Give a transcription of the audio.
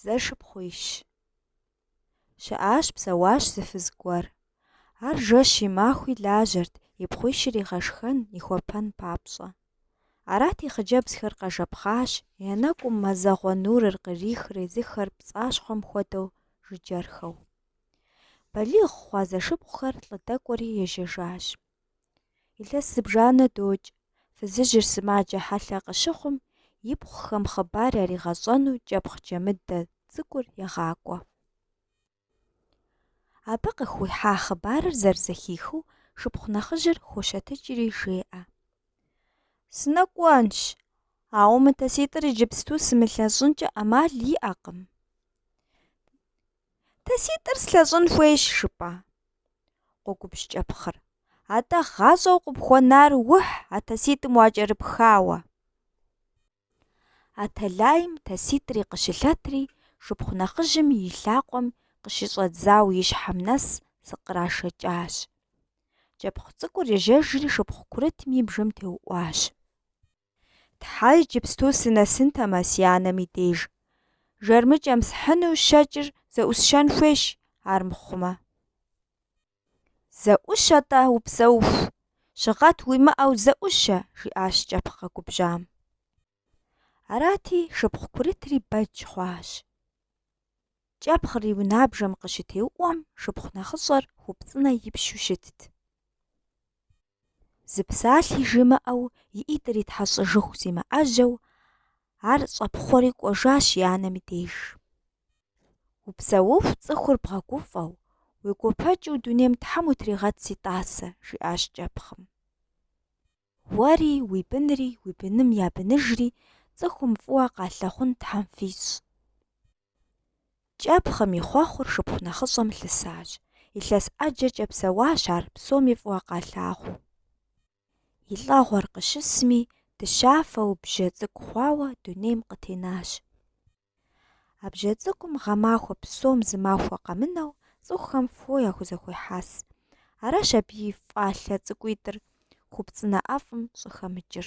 Зэшыпхъуищ. Щыӏащ, псэуащ зы фыз гуэр. Ар жэщи, махуи лажьэрт, и пхъуищыр игъэшхэн, ихуэпэн папщӏэ. Арати, хъыджэбзхэр къэжэпхъащ, я нэкӏум мазэгъуэ нурыр кърихрэ езыхэр пцӏащхъуэм хуэдэу жыджэрхэу. Балигъ хъуа зэшыпхъухэр лӏы дэкӏуэри ежьэжащ. Илъэс зыбжанэ докӏ, фызыжьыр сымаджэ хьэлъэ къыщыхъум, ипхъухэм хъыбар яригъэщӏэну кӏэпхъ джэмыдэ цӏыкӏур егъакӏуэ. Абы къыхуихьа хъыбарыр зэрызэхихыу шыпхъу нэхъыжьыр хощэтыкӏри жеӏэ. Сынэкӏуэнщ, ауэ мы таситӏыр иджыпсту сымылъэщӏынкӏэ ӏэмал иӏэкъым. Таситӏыр слъэщӏын хуейщ жыпӏа? Къогубжь кӏэпхъыр. Атӏэ гъащӏэу къыпхуэнар ухь а таситӏым уакӏэрыпхауэ. А тэлайм таситӏри къыщылъэтри, шыпхъу нэхъыжьым и лъакъуэм къыщыщӏэдзауэ и щхьэм нэс зыкърашэкӏащ. Кӏэпхъ цӏыкӏур ежьэжри шыпхъу курытым и бжэм теуӏуащ. Тхьэ иджыпсту сынэсынтэмэ си анэм и деж. Жэрмыкӏэм схьыну щэкӏыр зэӏусщэн хуейщ, ар мыхъумэ. Зэӏущэ-тӏэ, упсэуху. Щыгъэт уимыӏэу зэӏущэ, жиӏащ кӏэпхъ къэгубжьам. Арати, шыпхъу курытри бэдж хъуащ. Кӏэпхъыр и унабжэм къыщытеуӏуэм, шыпхъу нэхъыщӏэр хупцӏынэ ипщу щытт. Зы псалъи жимыӏэу и ӏитӏыр итхьэщӏыжыху зимыӏэжьэу, ар щӏэпхъуэри кӏуэжащ и анэм и деж. Упсэуху цӏыхур бгъэгуфӏэу, уегуэпэкӏыу дунейм Тхьэм утригъэт си тӏасэ, жиӏащ кӏэпхъым. Уэри, уи бынри, уи быным я быныжри цӏыхум фӏыуэ къалъагъун Тхьэм фищӏ. Кӏэпхъым и хъуэхъур шыпхъу нэхъыщӏэм лъысащ. Илъэс ӏэджэкӏэ псэуащ ар псоми фӏыуэ къалъагъуу. И лӏэгъуэр къыщысми, дыщафэу бжьэ цӏыкӏу хъуауэ дунейм къытенащ. А бжьэ цӏыкӏум гъэмахуэ псом зы махуэ къэмынэу цӏыхухэм фо яхузэхуехьэс. Аращ абы и фӏалъэ цӏыкӏуитӏыр хупцӏынэ ӏэфӏым щӏыхэмыкӏыр.